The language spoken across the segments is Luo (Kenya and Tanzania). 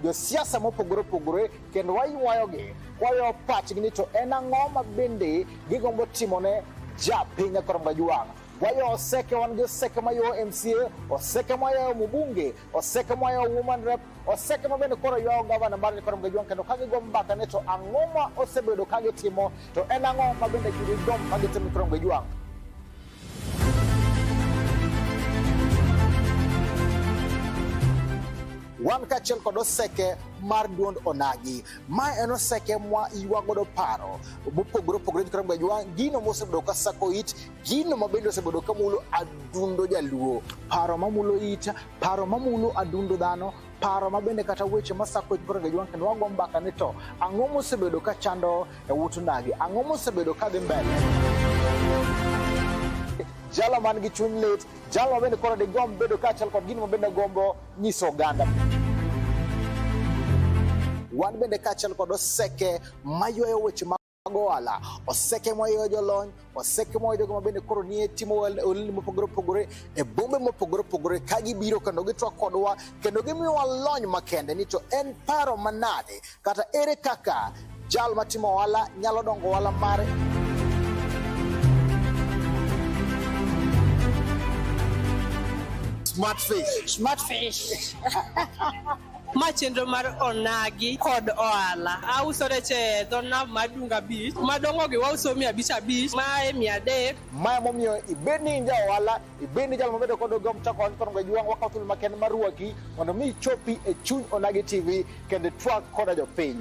josiasa mopogore opogore kendo waywayogi kwayo pachgi ni to en ang'o ma bende gigombo timone ja piny akoromga jwang' wayo oseke wan gi oseke mayo mca oseke mayayo mubunge oseke mayo woman rep oseke ma bende koro ywayo gavana mar akoromga jwang' kendo ka gigo mbaka ni to ang'o ma osebedo ka gitimo to en ang'o ma bende gidom ka gitimo akoromga jwang' wan kaachiel kod oseke mar duond onagi ma en oseke mwa ywa godo paro mopogore opogore jikra mobedo ywa gino mosebedo ka sako it gino ma bende osebedo ka mulo adundo jaluo paro mamulo it paro mamulo adundo dhano paro ma bende kata weche masako it koro ngejwa kendo wago mbaka ni to ang'o mosebedo ka chando e ut ndagi. Ang'o mosebedo ka dhi mbele? Jalo man gi chuny lit, jalo ma bende koro digomb bedo kaachiel kod gino ma bende gombo nyiso oganda wan bende kaachiel kod oseke maywayo weche mag ohala oseke maywayo jolony waseke moa jogo mabende koro nie timo olni mopogore opogore e bombe mopogore opogore ka gibiro kendo gitwa kodwa kendo gimiyowa lony makende ni to en paro manade kata ere kaka jal matimo ohala nyalo dongo ohala mare smart fish smart fish ma chenro mar onagi kod ohala auso rech e dho nam mar Dunga Beach madongogi wauso mia abich abich ma e mia adek ma emomiyo ibed ni in ja ohala ibed ni jal mabedo kod ogom chako ohala kono gajwang' wakawo thuolo maken mar rwaki mondo mi ichopi e chuny onagi tv kendo twak koda jopiny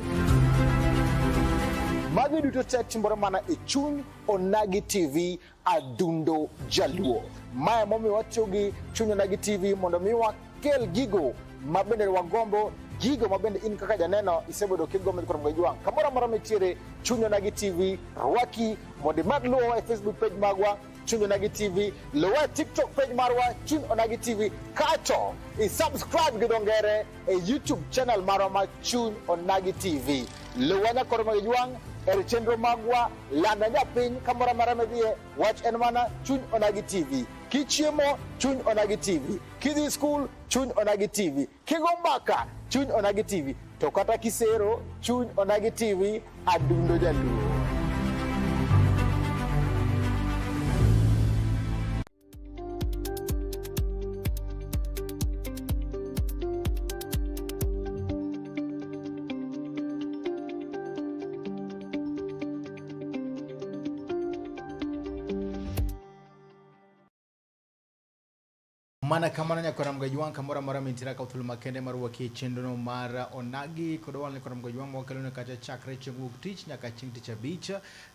magi duto te timore mana e chuny onagi tv adundo jaluo. Maya momiyo watiyo gi chunyona gi TV mondo mi wakel gigo ma bende wagombo gigo ma bende in kaka janeno isebedo kigombo kod mgej wang' kamoro amora mitiere chunyona gi TV rwaki mondo imad luwowa e Facebook page magwa Chun Onagi TV, luwe TikTok page marwa Chun Onagi TV, kato isubscribe gi dongere e YouTube channel marwa ma Chun Onagi TV. Luwe nyakoro magejwang' e chenro magwa Landa japiny kamoro amora midhiye, wach en mana chuny onagi TV. Kichiemo, chuny onagi TV. Kidhi skul, chuny onagi TV. Kigo mbaka, chuny onagi TV. To kata kisero, chuny onagi TV, adundo jaluo. mana kamano nyakwara mgaji wang kamora mora mintira ka uthulu makende mar wakie chenro no mar onagi kod wal ni kora mgaji wang mwakelone kata chakre chieng' wuok tich nyaka chieng' tich abich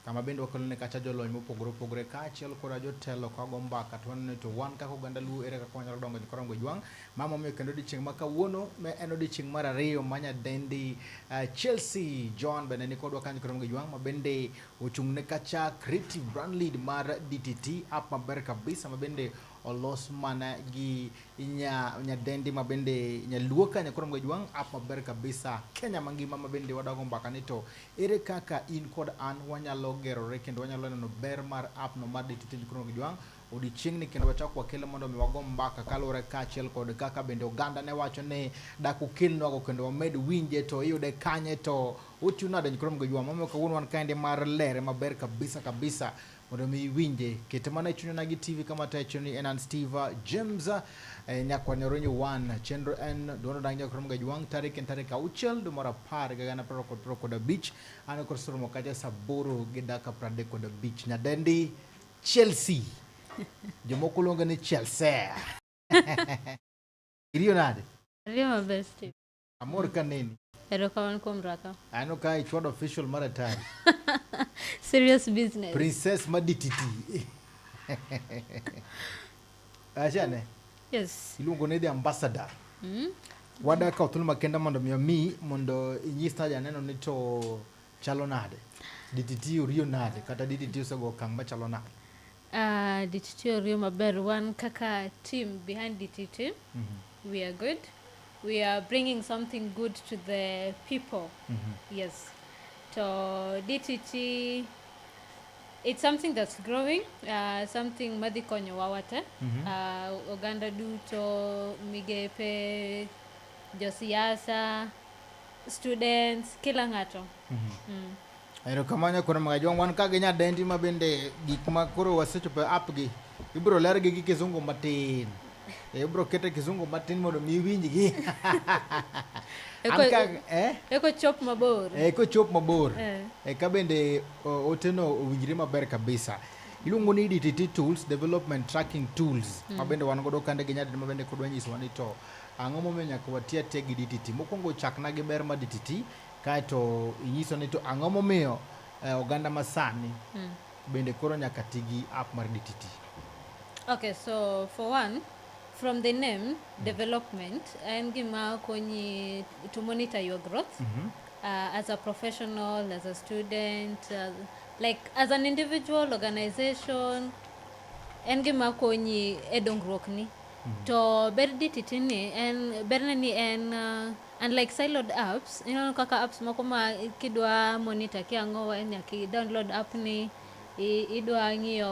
kama bende wakelone kacha jolony mopogore opogore kaachiel koda jotelo kago mbaka to waneno to wan kaka oganda Luo ere kaka wanyalo dongo e korango jwang' ma momiyo kendo odiechieng' ma kawuono en odiechieng' mar ariyo ma nyadendi eh, Chelsea John bende ni kodwa kanyo korango jwang' ma bende ochung' ne kacha creative brand lead mar DTT app maber kabisa ma bende olos mana gi nya nyadendi ma bende nyaluo ka nyakoro mgo jwang' app maber kabisa kenya mangima ma bende wadago mbaka ni to ere kaka in kod an wanyalo gerore kendo wanyalo neno ber mar app no mar detute nyakoro mgo jwang' odiochieng'ni kendo wachako wakele mondo mi wago mbaka kaluwore kaachiel kod kaka bende oganda ne wacho ni dak ukelnwago kendo wamed winje to iyude kanye to otiyo nade nyakoro mgo jwang' momiyo kawuono wan kaendi mar lere maber kabisa kabisa mondo mi iwinje kete mana e chunyona gi tv kama tacho ni en an steve james eh, nyakwani oronyo one chenro en duondo dang nyakrom ga jwang tarik en tarik auchiel dwe mar apar ga gana praro kod praro kod abich an kod soromo kacha saa aboro gi dakika pradek kod abich nyadendi chelsea jomoko luonge ni chelsea iriyo nade Ariyo maber Steve. Amor ka neni. Erokamano kuom rwaka. Aneno ka ichwado official mar atari. Serious business. Princess madititi. Achane. Yes. Iluongo ni the ambassador. Mm. Wada ka othul makenda mondo mi omi mondo inyis na janeno ni to chalo nade. DTT oriyo nade kata DTT osego okang' machalo nade. Uh, DTT oriyo maber wan kaka team behind DTT mm -hmm. we are good we are bringing something good to the people mm -hmm. yes to DTT it's something that's growing uh, something madhi konyo wawate mm -hmm. uh, oganda duto migepe josiasa students kila ng'ato mm -hmm. mm. Erokamano Kwaro Magajwang'. Wan ka gi nyadendi ma bende gik ma koro wasechopo e app gi ibiro lergi gi kizungu matin. Eh, Ibiro kete kizungu matin mondo mi iwinjgi. An Eko- ka- eh? Eko chop mabor. Eh, kochop mabor Eh. eh, ka bende o- oteno owinjre maber kabisa iluongo ni dtt tools development tracking tools ma bende wan godo kande gi nyadidi ma bende kodwa nyisowa ni to ang'o momiyo nyaka wati atiya gi dtt mokwongo chakna gi ber ma dtt Kaeto inyiso ni to ang'o momiyo eh, oganda masani mm. bende koro nyaka ti gi app mar DTT. Okay, so for one, from the name mm. development en gima konyi to monitor your growth mm -hmm. uh, as a professional, as a student, uh, like as an individual organization en gima konyi e dongruokni. Mm -hmm. To ber DTT ni en berne ni en uh, Unlike siloed apps, ineno kaka apps moko ma kidwa monitor kia ang'o nyaka i download app ni idwa ng'iyo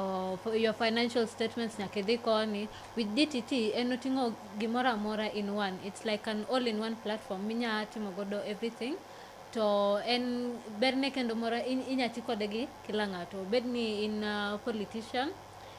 your financial statements nyaka idhi koni. With DTT en oting'o gimoro amora in one. It's like an all in one platform minya timo godo everything. To en berne kendo moro inya ti kode gi kila ng'ato. Obed ni in a politician.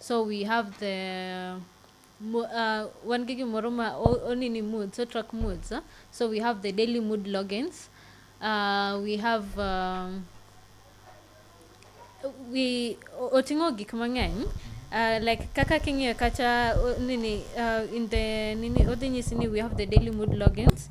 So we have the mo- uh, wan gi gimoro ma o- onini moods, o track moods. Huh? So we have the daily mood logins. Uh, we have um, we o- oting'o gik mang'eny uh, like kaka king'iyo kacha o- nini uh, in the nini odhi nyisi ni we have the daily mood logins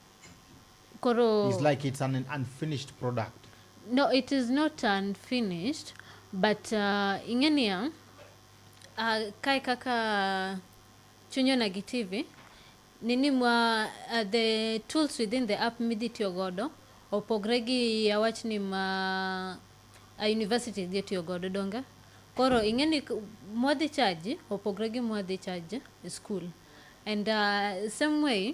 koro It's like it's an unfinished product. no it is not unfinished but uh, ing'e niya uh, kae kaka chunyo na gi tv nini ma uh, the tools within the app midhi tiyo godo opogre gi awach ni ma a university dhi tiyo godo donge koro ing'e ni k- mwadhi chaji opogre gi mwadhi chaji e school and uh, same way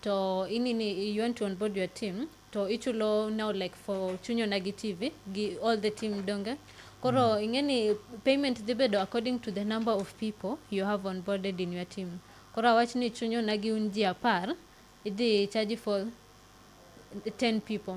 to inini you want to onboard your team to ichulo now like for chunyo na gi TV gi all the team donge koro mm. ingeni payment dhi bedo according to the number of people you have onboarded in your team koro awach ni chunyo na gi un ji apar idhi charge for 10 people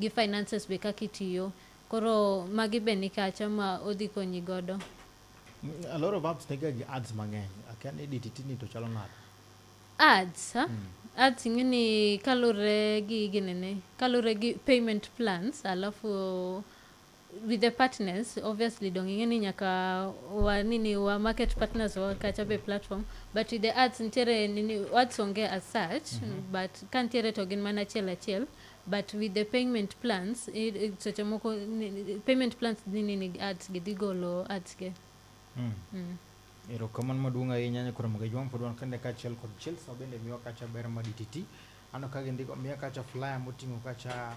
gi finances be kaka itiyo koro magi be nikacha ma odhi konyi godo a lot of apps nega gi ads mang'eny akia ni edit tini to chalo nade ads ha? Hmm. ads ing'e ni kalure gi ginene kalure gi payment plans alafu with the partners obviously dong ing'e ni nyaka wa nini wa market partners wa kacha be platform but with the ads nitiere nini ads onge as such mm -hmm. but ka nitiere to gin mana achiel achiel but with the payment plans seche moko payment plans dhi nini ads gi dhi golo ads ge mm. mm. erokamano maduong' ahinya nyakoro moga jwang' pod wan kende kaachiel kod chelsea bende miwa kacha ber ma dtt ano ka gindiko miya kacha flyer moting'o kacha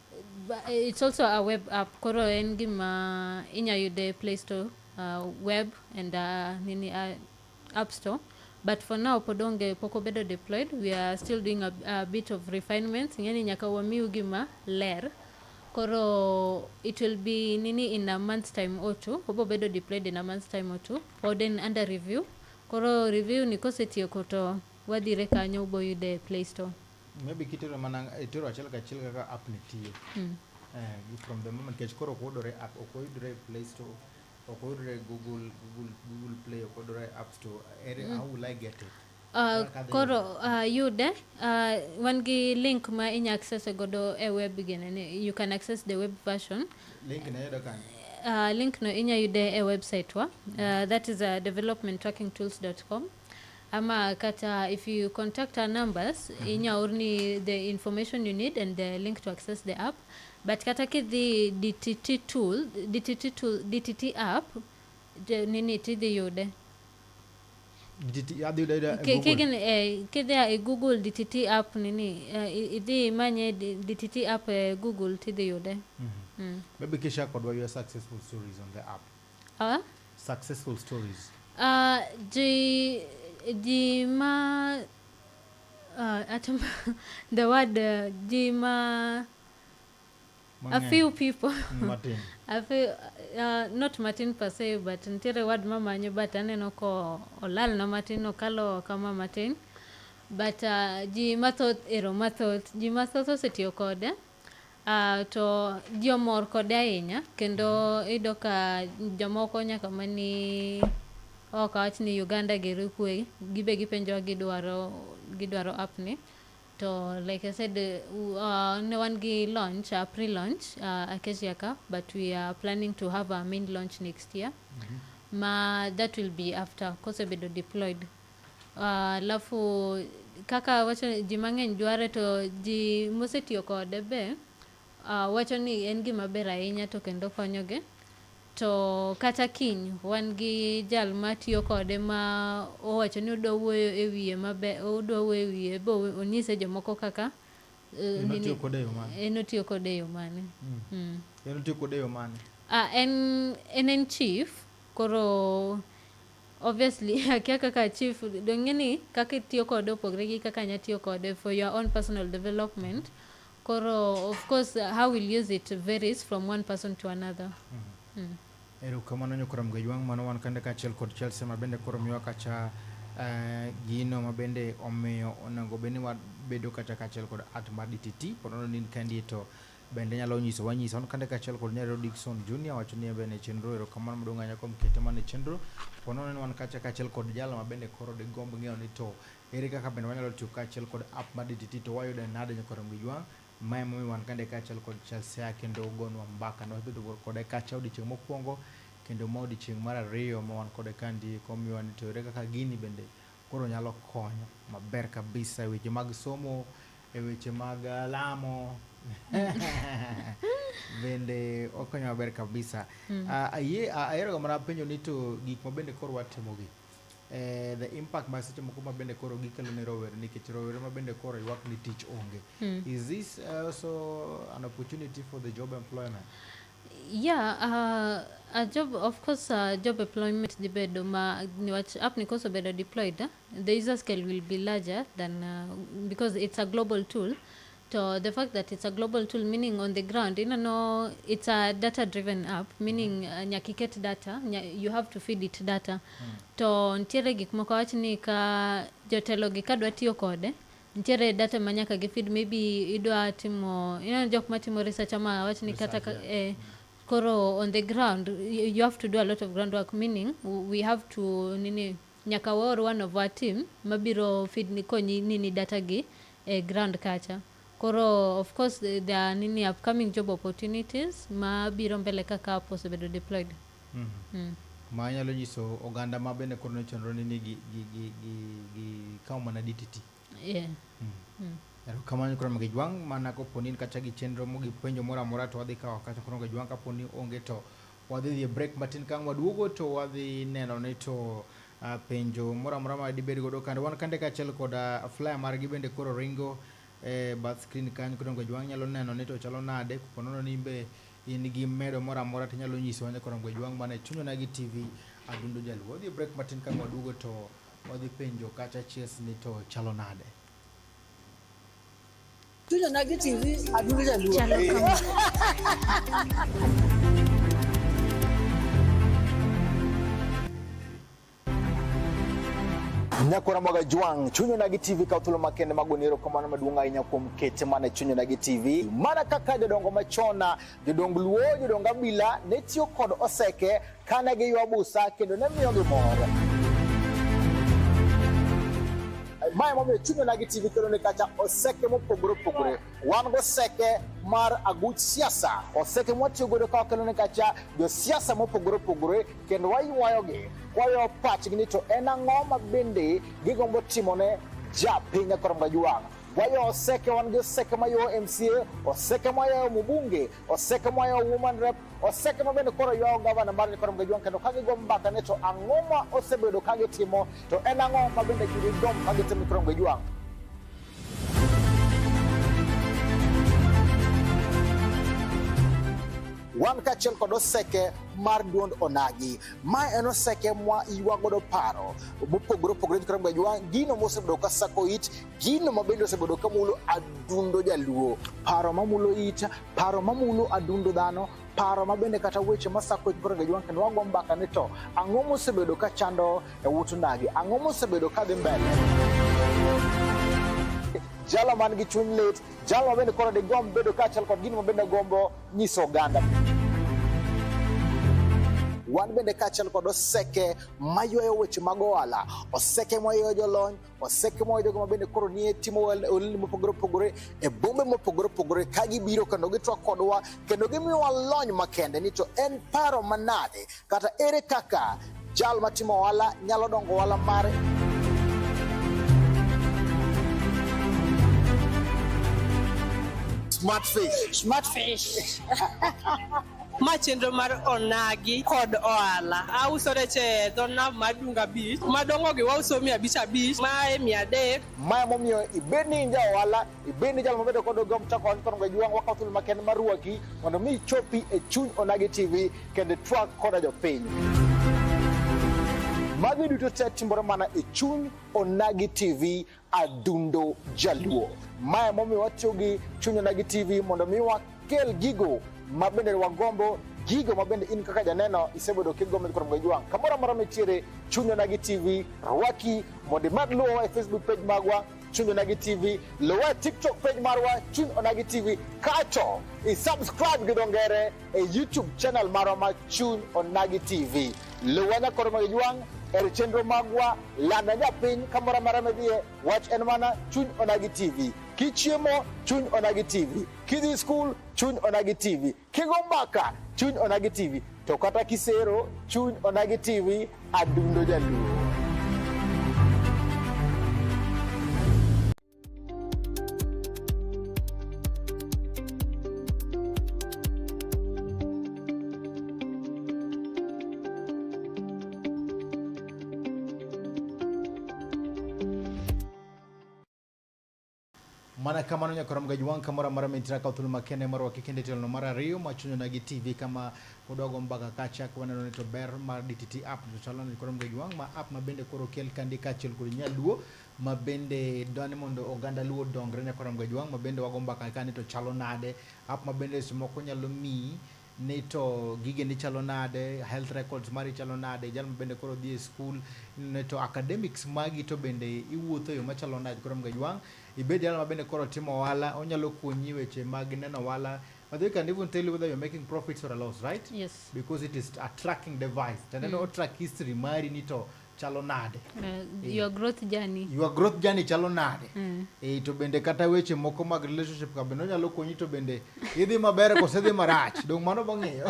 But eh, it's also a web app koro en gima inya yude play store uh, web and uh, nini uh, app store but for now pod onge pok obedo deployed we are still doing a, a bit of refinements ing'eni nyaka wamiu gima ler koro it will be nini in a month's time or two obo bedo deployed in a month's time or two pod en under review koro review ni kosetieko to wadhire kanyo uboyude e play store maybe kitero mana itero achiel kachiel kaka app ni tiyo mm. uh, from the moment kech koro okuyudore app okuyudore play store okuyudore google google google play okuyudore app store ere mm. how will i get it Uh, koro uh, yude uh, wan gi link ma inya access e godo e web genene you can access the web version link na yudo kanye uh, link no inya yude e website wa uh, that is uh, developmentrackingtools.com ama kata if you contact our numbers mm -hmm. inya orni the information you need and the link to access the app but kata kidhi dtt tool dtt tool dtt app nini tidhi yude kidhi e google dtt app nini eh, idhi imanye dtt app e google tidhi yude mm -hmm. mm. maybe kisha kodwa your successful stories on the app uh, successful stories uh, ji ji ma uh, atam, the word uh, ji ma a few people mm, Martin. a few, uh, not Martin per se but ntiere word mamanyo but aneno ko olal na Martin okalo kama Martin but uh, ji mathoth ero mathoth ji mathoth osetiyo kode Ah, to ji omor kode ahinya kendo iyudo ka jomoko nyaka mani ok awach ni Uganda gero kwe gibe gipenjowa gidwaro gidwaro app ni to like I said uh, ne wan gi launch uh, pre launch uh, Acacia ka but we are planning to have our main launch next year mm -hmm. ma that will be after kosebedo deployed Alafu kaka awacho ni ji mang'eny dware to ji mosetiyo kode be ah, wacho ni en gima ber ahinya to kendo konyogi. To kata kiny wan gi jal matiyo kode ma owacho ni odwa wuoyo e wiye maber, odwa wuoyo e wiye bo onyise jomoko kaka eh, En otiyo kode e yo mane? en otiyo kode e yo mane. Mm. En otiyo kode e yo mane? Ah, en, en en chief koro Obviously akia kaka chief donge ni kaka itiyo kode opogre gi kaka nya tiyo kode for your own personal development. Koro of course how will use it varies from one person to another. Mm -hmm. mm. Erokamano Nyokora Mgejwang' mano wan kande kaachiel kod Chelsea ma bende koro miwa kacha uh, gino ma bende omiyo onego bed ni wabedo kacha kaachiel kod at mar DTT pod ni in kendi to Bende nyalo nyiso wanyisa on kande kachiel kod nyarero Dickson Junior wacho ni ebe ne chenro erokamano maduong' ahinya kuom kete mane chenro pono ne wan kacha kachiel kod jalo ma bende koro digomb ng'eyo ni to ere kaka bende wanyalo tiyo kachiel kod app mar DTT to wayude nade nyaka romgi jwang' ma emomiyo wan kande kachiel kod Chelsea kendo gonwa mbaka ne wabedo kode kacha odiochieng' mokwongo kendo ma odiochieng' mar ariyo ma wan kode kandi komiwa ni to ere kaka gini bende Koro nyalo konyo maber kabisa e weche mag somo, e weche mag eh, lamo bende okonyo maber kabisa. Mm. Ah, ayie- ah, Aheroga mana penjo ni to gik ma bende koro watimogi eh, the impact ma seche moko ma bende koro gikelo ne rowere nikech rowere ma bende koro ywak ni tich onge. Is this also an opportunity for the job employment? Yeah, uh, a job of course uh, job employment dhi bedo ma niwach app ni koso bedo deployed eh, the user scale will be larger than uh, because it's a global tool to the fact that it's a global tool meaning on the ground you know it's a data driven app meaning uh, nyaka iket data nya, you have to feed it data to nitiere gik moko wach ni ka jotelogi ka dwa tiyo kode nitiere data ma nyaka gifid maybe idwa timo ineno jok matimo research ama wach ni kata eh, koro on the ground you have to do a lot of ground work meaning we have to nini nyaka waor one of our team mabiro feed ni konyi nini data gi eh, ground kacha koro of course there are nini upcoming job opportunities mabiro mbele kaka app osebedo deployed Mm. Mm. Ma nyalo nyiso oganda ma bende koro nochenro ni ni gi, gi, gi, gi, gi kawo mana dititi. Yeah. Mm. Mm. Ero kamano koro magi jwang' mana kopo ni kata gi chenro mo gi penjo moro amora to wadhi kawo kata koro magi jwang' kapo ni onge to wadhi dhi e break matin kang' waduogo to wadhi neno ni to uh, penjo moro amora ma dibed godo kande wan kande kaachiel kod uh, flyer margi bende koro ringo e eh, bath screen kanyo koro magi jwang' nyalo neno ni to chalo nade kopo nono ni be in gi medo moro amora tinyalo nyisowa ni Koromgwe Jwang' man e chuny onagi TV Adundo Jaluo. Wadhi e break matin ka waduogo to wadhi penjo kacha chies ni to chalo nade. Chuny onagi TV Adundo Jaluo. Chalo kama. Nyako Ramoga Jwang, Chunyo Nagi TV ka thuolo makende mago ni erokamano maduong' ahinya kuom kete mana Chunyo Nagi TV. Mana kaka jodongo machona, jodong Luo, jodong Abila ne tiyo kod oseke kane giywa busa kendo ne miyo gi mor. Mae momiyo Chunyo Nagi TV kelo ne kacha oseke mopogore opogore. Wan goseke mar aguch siasa, oseke mwatiyo godo ka wakelo ne kacha josiasa mopogore opogore kendo waywayogi kwayo pachgi ni to en ang'o ma bende gigombo timone ja piny akoro mga juwang' wayo oseke wan gi oseke ma ywayo mca oseke ma yayo mubunge oseke ma yayo woman rep oseke ma bende koro ywayo gavana mar akoro mga juwang' kendo ka gigo mbaka ni to ang'o ma osebedo ka gitimo to en ang'o ma bende gidom ka gitimo akoro mga juwang' wan kaachiel kod oseke mar duond onagi ma en oseke mwa ywa godo paro mopogore opogore kata mobedo ywa gino mosebedo ka sako it gino ma bende osebedo ka mulo adundo jaluo paro mamulo it paro mamulo adundo dhano paro ma bende kata weche ma sako koro ga jwank ni wago mbaka ni to ang'o mosebedo ka chando e wut ndagi ang'o mosebedo ka dhi mbele jalo man gi chuny lit jalo ma bende koro digomb bedo kaachiel kod gino ma bende gombo nyiso oganda wan bende kaachiel kod oseke maywayo weche mag ohala oseke maywayo jolony waseke mwa jogo mabende koro nie timo olni mopogore opogore e bombe mopogore opogore ka gibiro kendo gitwak kodwa kendo gimiyowa lony makende ni to en paro manade kata ere kaka jal matimo ohala nyalo dongo ohala mare smart fish smart fish Ma chenro mar onagi kod ohala. Auso rech e dho nam mar Dunga Beach. Madongogi wauso mia abich abich, mae mia adek. Mae momiyo ibed ni in ja ohala, ibed ni jal mabedo kod ogom chako ohala kono gajwang' wakawo thuolo makende mar rwaki mondo mi ichopi e chuny Onagi TV kendo itwak koda jopiny. Magi duto te timore mana e chuny Onagi TV Adundo Jaluo. Mae momiyo watiyo gi Chuny Onagi TV mondo mi wakel gigo ma bende wagombo gigo ma bende in kaka janeno isebedo kigombo kod mgoji wang' kamoro amora mitiere Chuny Onagi TV rwaki mondo imad luwowa e Facebook page magwa Chuny Onagi TV luwa e TikTok page marwa Chuny Onagi TV kato isubscribe gi dongere e YouTube channel marwa ma Chuny Onagi TV Luwada koro mag jwang' er chenro magwa landa japiny kamoro amara medhiye wach en mana chuny onagi tv kichiemo chuny onagi tv kidhi skul chuny onagi tv kigo mbaka chuny onagi tv to kata kisero chuny onagi tv adundo jaluo mana kamano nyakora mgaji wang kamora mara mintra ka thulu makene mara wakikende telo mara riyo machunyo nagi tv kama udogo mbaka kacha kwa neno nito ber mara dtt app tutalana nyakora mgaji wang ma app mabende koro kel kandi kachel kuri nyaluo ma bende dwani mondo oganda Luo odongre ne Karamgo Ojwang' ma bende wago mbaka kani to chalo nade, app ma bende seche moko nyalo miyi ni to gigeni chalo nade, health records mari chalo nade, jal ma bende koro dhi e skul ni to academics magi to bende iwuotho e yo machalo nade Karamgo Ojwang'. Ibed jal ma bende koro timo ohala, onyalo konyi weche mag neno ohala By the way, can even tell you whether you're making profits or a loss, right? Yes. Because it is a tracking device. Tende mm. no track history mari ni to chalo nade uh, your growth journey your growth journey chalo nade mm. e, to bende kata weche moko mag relationship ka bende onyalo konyi to bende idhi maber kose dhi marach dong mano bang'eyo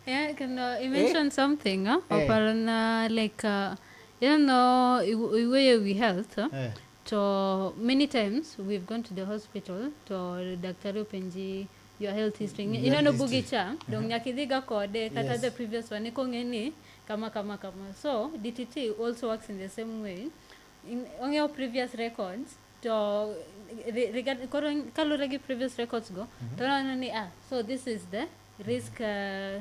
yeah can uh, you mention eh? something huh? eh. oparona like uh, you don't know iweyo wi health huh? eh. to many times we've gone to the hospital to daktari openji your health history Nge- ineno bugi cha dong nyaka idhiga kode kata Yes. the previous one ikong'e ni kama kama kama so dtt also works in the same way In- ong'eyo previous records to re- regard- koro kaluwore gi previous records go to neno ni ah so this is the risk uh,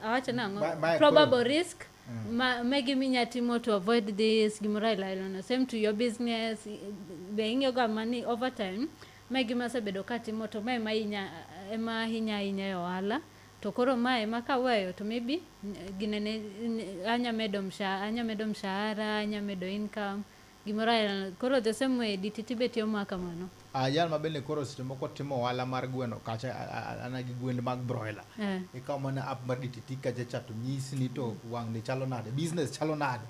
awacho nang'o Ma- ma- probable risk ma ma gima inya timo to avoid this gimoro aila aila no same to your business i- be ing'eyo ga mani over time ma gima asebedo katimo to ma ema inya ema ahinya ahinya e ohala to koro ma ema kaweyo to maybe n- ginene n- anya medo mshahara anya medo mshahara anya medo income Gimoro ayalona. Koro the same way diti tibe tiyo ma kamano. Ah, jal ma bende koro seche moko timo ohala mar gweno kacha a- a- a- ana gi gwend mag broiler Eh. ikawo mana app mar DTT kacha cha to nyisi ni to wang' ni chalo nade business chalo nade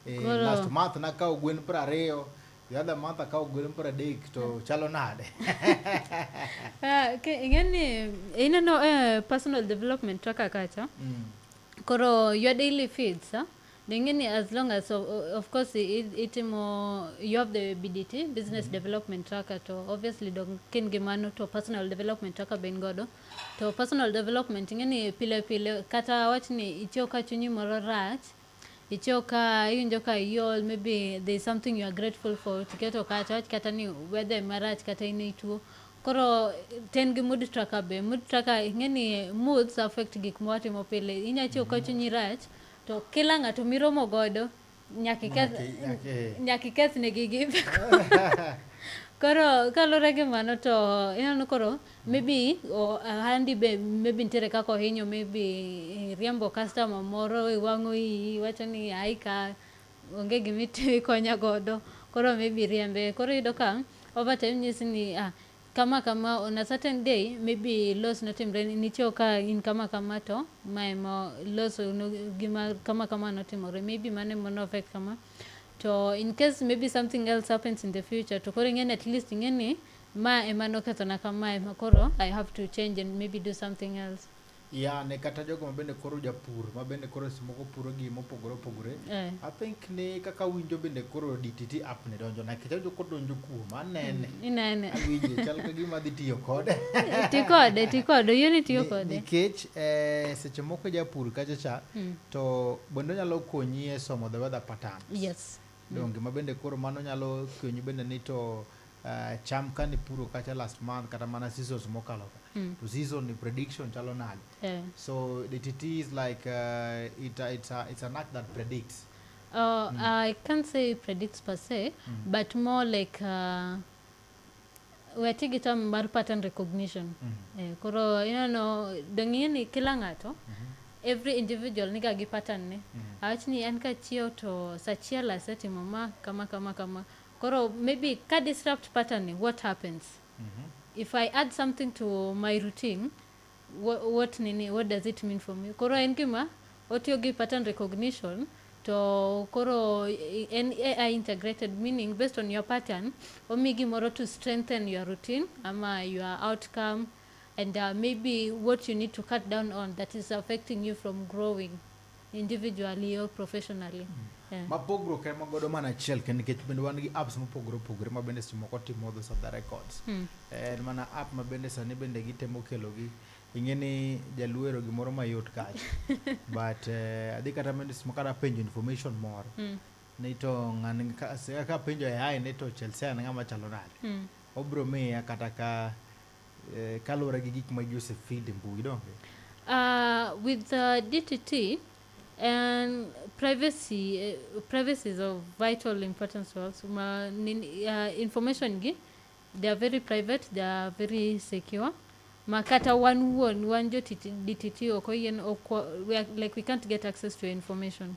Eh, Koro- last month nakawo gwen piero ariyo the other month akawo gwen piero adek to chalo nade Ah, ke- ing'eni ineno eh, personal development to kaka cha Mm. koro your daily feeds ah, Lingine as long as of, of course itimo you have the BDT business mm -hmm. development tracker to obviously dok kin gi mano to personal development tracker ben godo to personal development ing'eni pile pile kata wach ni ichiew ka chunyi moro rach ichiew ka iwinjo ka iol maybe there is something you are grateful for tiketo kacha wach kata ni weather marach kata in ituo koro ten gi mood tracker be mood tracker ing'eni moods affect gik mwatimo pile inyachiew ka chunyi rach mm -hmm To kila ng'ato miromo godo nyaka iketh Nyaka i- nyaka- eh. nyaka ikethnegi gimbe koro kaluwore gi mano to ineno koro maybe o- ohandi be maybe nitiere kaka ohinyo maybe iriembo customer moro iwang'o iyi iwacho ni ai ka onge gima iti- ikonya godo koro maybe iriembe koro iyudo ka overtime nyisi ni ah, Kama kama on a certain day maybe loss notimre nicho ka in kama kama to ma emo loss no, gima kama kama notimore maybe mano emo no affect kama to in case maybe something else happens in the future to koro ing'eni at least ing'eni ma ema nokethona kama ema koro I have to change and maybe do something else Yeah, ne kata jogo ma bende koro japur ma bende koro seche moko puro gik mopogore opogore Eh. i think ni kaka winjo bende koro dtt app ne donjo na kech ajo kodonjo kuom anene Inene. awinje chal ka gima adhi tiyo kode Ti kode, ti kode, oyie ni tiyo Ni- kode. nikech eh, seche moko japur kacha cha Mm. to bende onyalo konyi e somo the weather pattern Yes. donge ma bende koro mano nyalo konyi bende ni to uh, cham kane puro kacha last month kata mana seasons mokalo ka mm. to season ni prediction chalo nade yeah. so the TT is like uh, it, uh, it's, a, it's an act that predicts uh, mm. I can't say predicts per se mm. but more like uh, weti gi term mar pattern recognition mm -hmm. eh, koro you know dong'e ni kila ng'ato mm -hmm. every individual niga gi pattern ne mm -hmm. awach ni an kachiew to sachiel asetimo ma kama kama kama Koro maybe ka disrupt pattern ni what happens? Mm -hmm. If I add something to my routine, what, what nini, what does it mean for me? Koro en gima otiyo gi pattern recognition to koro en AI integrated meaning based on your pattern omi gimoro to strengthen your routine ama your outcome and uh, maybe what you need to cut down on that is affecting you from growing. individually or professionally yeah. ma pogruok ema godo mana achiel kendo nikech bende wan gi apps mopogore opogore ma bende seche moko timo those other records hmm. en mana app ma bende sani bende gitemo kelogi ing'e ni jaluero gimoro mayot kacha but uh, adhi kata bende seche moko kata penjo information moro hmm. ni to ng'ani ka penjo e ai ni to chelsea en ng'ama chalo nade hmm. obro miya kata ka eh, kaluwore gi gik ma ji osefeed e mbui donge? Uh, with uh, DTT, and privacy eh, privacy is of vital importance to us ma nin, uh, information gi they are very private they are very secure ma kata wan wuon wan jo TT DTT ok oyien ok wa- we are, like we can't get access to your information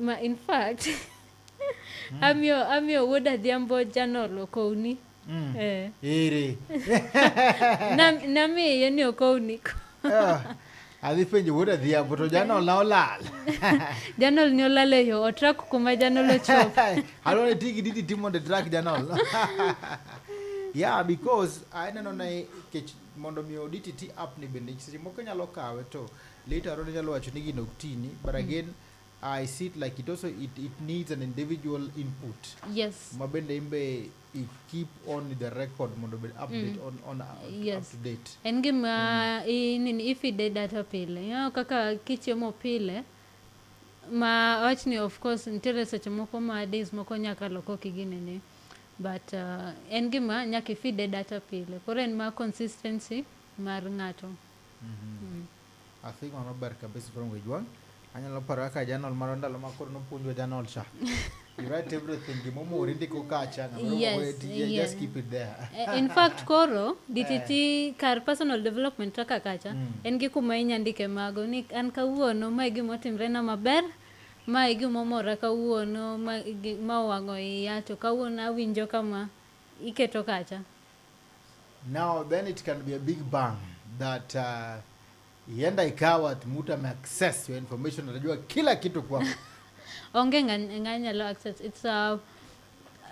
Ma in fact mm. amiyo amiyo wuod Adhiambo janol okowni. Mm. Eh. Iri. Na namiye ni okowni. Oh. Adhi penjo wuod Adhiambo to janol na olal. janol ni olal e yo otrak kuma janol ochopo. Alone tigi didi timo de track janol. yeah because aneno na kech mondo mi oditi ti app ni bende seche moko nyalo kawe to Later on inyalo wacho ni gino ok tini but mm. again I see it like it also it, it needs an individual input. Yes. Mabende imbe i keep on the record mondo be update mm. on on uh, yes. up to date. En gima mm. i, nini if i de data pile. You know, kaka kichiemo pile ma wach ni of course nitiere seche moko ma days moko nyaka loko kigine ni but uh, en gima nyaka ifide data pile koro en ma consistency mar ng'ato I think mano ber kabisa from Wejwang. Anyalo paro kaka janol mara ndalo ma koro nopuonjwa janol cha. You write everything gimomori ndiko kacha ng'ama Yes, yes, ti- yeah. just keep it there. Eh, in fact koro DTT kar personal development kaka kacha en gi kuma inya ndike mago ni an kawuono mae gimotimre na maber mae gimomora kawuono ma gi- ma owang'o iya to kawuono awinjo kama iketo kacha Now then it can be a big bang that uh, ienda ikawa mtu ame access your information, atajua kila kitu kwako. Onge nganyalo access. It's a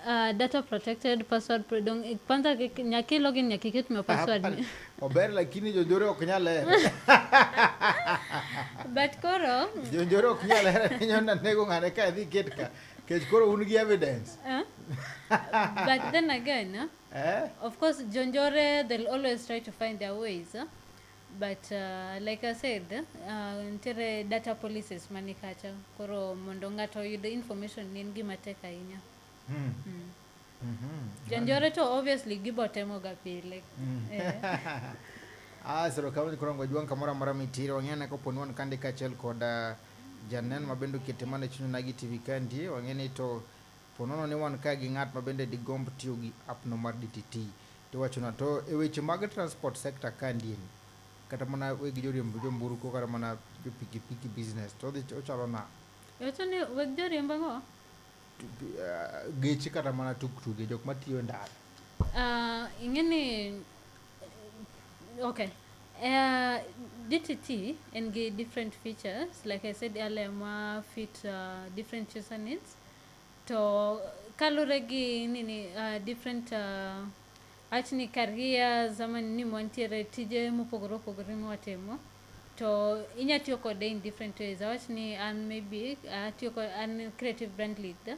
uh, data protected password dong kwanza nyaki login nyaki kitu me password ni ober lakini jonjore ok nyal hero but koro jonjore ok nyal hero ninyo na nego ngane ka dhi ketka kech koro un gi evidence uh? but then again uh, Eh? Of course, Jonjore, they'll always try to find their ways. Huh? But uh, like I said, uh, ntere data policies manikacha koro mondo ng'ato oyud information ni en gima tek ahinya. Mm. Mm. Mm -hmm. Jonjore to obviously gibotemoga pile. Mm. Eh. ah, sero kawani koro ngwajuang kamoro amora mitire wang'e anako poni wan kande kaachiel kod uh, janen mabende oketemane chunyonagi TV kandi wang'e ni to Po nono ni wan kae gi ng'at ma bende digomb tiyo gi appno mar DTT, to iwachona. To e weche mag transport sector ka ndieni, kata mana weg joriemb jomburko kata mana jo pikipiki business, to odhi ochalo na. Iwacho ni weg joriemb ang'o? Geche kata mana tuktuge, jok matiyo e ndara. Ah, ing'e ni okay uh, dtt en gi different features like i said earlier ma fit uh, different user needs To kalure gi nini uh, different uh, achni careers ama ni mwantiere tije mopogore opogore mwatimo to inya tiyo kode in different ways awach ni an maybe atiyo kod an creative brand leader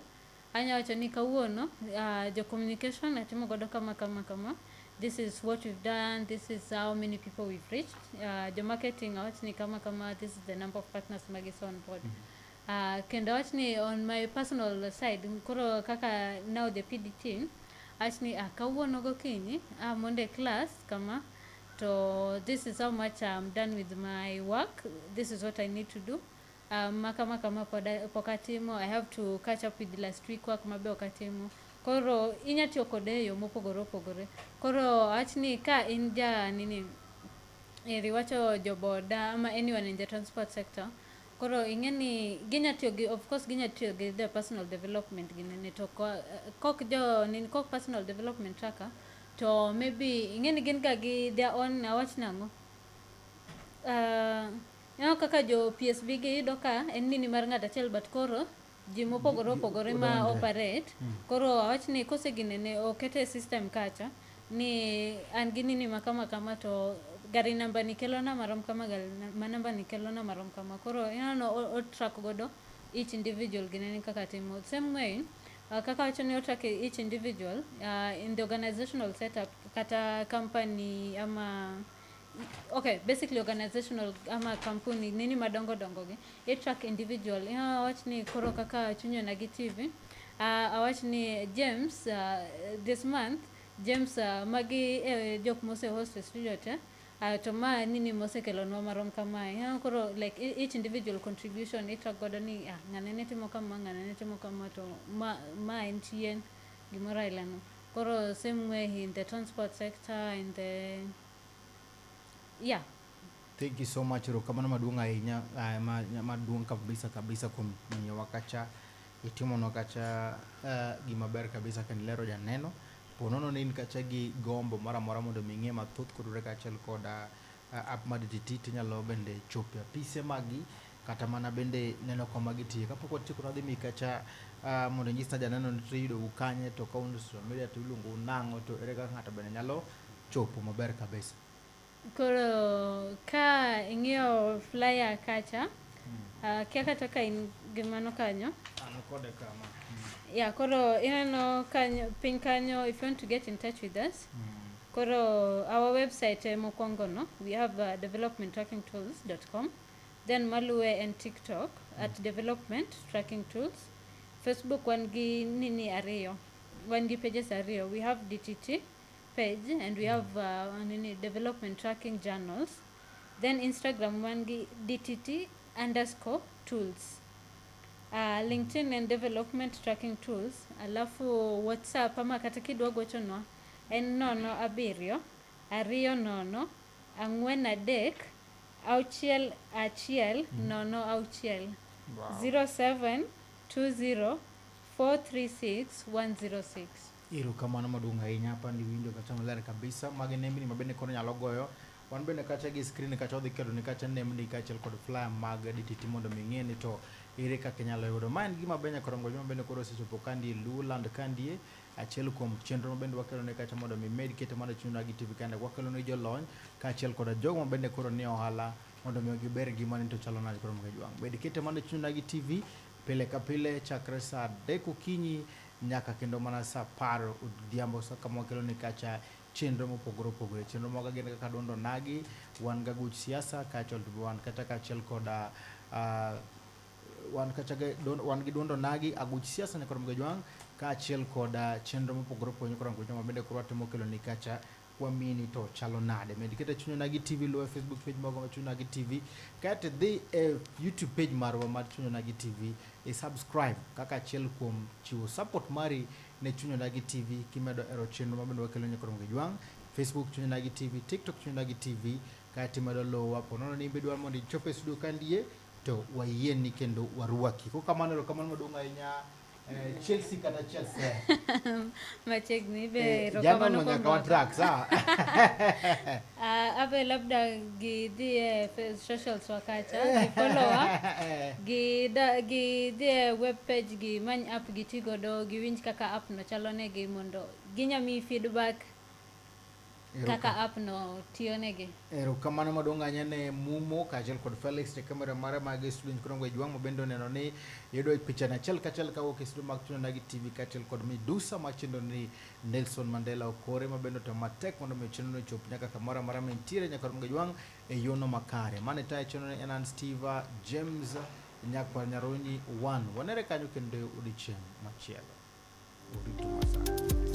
anya wacho ni kawuono uh, jo communication atimo godo kama kama kama this is what we've done this is how many people we've reached uh, jo marketing awach ni kama kama this is the number of partners magis on board mm -hmm. Uh, kendo awach ni on my personal side koro kaka now the PD team awach ni ah, kawuono gokinyi ah, mondo e class kama to this is how much I'm done with my work this is what I need to do um, maka maka ma pok atimo I have to catch up with last week work ma be ok atimo koro inya tiyo kode e yo mopogore opogore koro awach ni ka in ja nini eri wacho joboda ama anyone in the transport sector Koro ing'e ni ginya tiyo gi of course ginya tiyo gi their personal development gi nini to ko- kok jo nini kok personal development tracker to maybe ing'e ni gin ga gi their own awach nang'o uh, ineno kaka jo PSB gi iyudo ka en nini mar ng'ato achiel but koro ji mopogore opogore ma operate hmm. koro awach ni kose gini ne okete e system kacha ni an gi nini ma kama kama to gari namba ni kelo na marom kama gari ma namba ni kelo na marom kama koro inano o track godo each individual gine ni kaka timo same way uh, kaka wacho ni o track each individual uh, in the organizational setup kata company ama okay basically organizational ama kampuni nini madongo dongo gi i track individual you know, awach ni koro kaka chunyo na gi tv uh, ah, awach ni james uh, this month james uh, magi eh, jok mose host e studio te uh, to ma nini mosekelonwa marom kamae you know, koro like e, each individual contribution i track godo ni ah, ng'ane ne timo kama ng'ane ne timo kama to ma, ma en chien gimoro ailano. Koro same way in the transport sector, in the yeah. Thank you so much. Erokamano maduong' ahinya eh, maduong' kabisa kabisa kuom miyowa kacha itimonwa kacha eh, gima ber kabisa kendo lero janeno. Ponono ni in kacha gi gombo moro amora mondo mi ing'e mathoth kotudore kaachiel koda App mar DTT to inyalo bende chopo e apise maggi kata mana bende neno kama gitiye. Kapok watieko nadhi mi kacha uh, mondo inyisna janeno ni to iyudogu kanye to ka un social media to iluongou nang'o to ere kaka ng'ato bende nyalo chopo maber kabisa. Koro ka ing'iyo flyer kacha Ah, kia kata ka in gi mano kanyo An kode kama. ya koro ineno kanyo piny kanyo if you want to get in touch with us koro our website eh, mokwongo no we have uh, developmenttrackingtools.com then maluwe en tiktok at development tracking tools facebook wan gi nini ariyo wan gi pages ariyo we have dtt page and we have uh, nini development tracking journals then Instagram wan gi DTT underscore tools. Uh, LinkedIn and development tracking tools. Alafu WhatsApp ama kata kidwa gochonwa en nono abiriyo ariyo nono ang'wen adek auchiel achiel mm. nono auchiel wow. 0720 436 106 Iro kamano maduong' ahinya hapa ni winjo kata maler kabisa magi nembni ma bende koro nyalo goyo Wan bende kacha gi screen kacha odhi keto ni kacha nemni kacha kod flyer mag DTT mondo mi ng'e ni to ere kaka inyalo yudo. Ma en gima benya korongo joma bende koro osechopo kandi Luland kandi achiel kuom chenro ma bende wakelo ne kacha mondo mi med kete mondo chuna gi TV kandi wakelo ne jolony kachiel kod jogo ma bende koro ni ohala mondo mi giber gima ni to chalo nade koro mga jwang. Med kete mondo chuna gi TV pile ka pile chakre saa adek okinyi nyaka kendo mana saa apar odhiambo kama wakelo ne kacha chenro mopogore opogore. Chenro maga gin kaka duond onagi, wan ga guch siasa kaachiel to wan kata kaachiel koda uh, wan kacha wan gi duondo nagi aguch siasa nyakoro mga jwang kaachiel koda chenro mopogore opogore nyakoro mga jwang mabende koro watimo kelo ni kacha kwamini to chalo nade med kete chunyo nagi tv luwe facebook page mago ma chunyo nagi tv kate dhi e youtube page marwa mar chunyo nagi tv e subscribe kaka achiel kuom chiwo support mari ne Chuny Odagi TV kimedo ero chenro ma bende wakelo nyaka romge jwang', Facebook Chuny Odagi TV, TikTok Chuny Odagi TV, ka timedo luwa ponono ni bidwa mondo ichop e studio kandie to wayieni kendo warwaki. Ko kamano ero kamano maduong' ahinya eh, Chelsea kata Chelsea. Machiegni be Eh, erokamano Jana kuom nyaka wa rwako. track, sawa? Ah, Ave labda gidhie fe- socials wakacha gi follower gi da- gidhie web page gi many app giti godo giwinj kaka app no chalo negi mondo ginya miyi feedback kaka app no tiyo negi erokamano maduong' ahinya ne mumo kaachiel kod felix te kamera mara mag student krongo e jwang' mabende oneno ni yudo e pichani achiel kachiel kawuok e studio mag tunana gi tv kaachiel kod midusa machendo ni Nelson Mandela okore ma bende otemo matek mondo mi chenro ochop nyaka kamoro amora ma intiere nyaka rum gajwang' e yono makare. Mane tayo chenro ne en an Steve James Nyakwar Nyaronyi One. Wanere kanyo kendo odiochieng' machielo. Orito masana.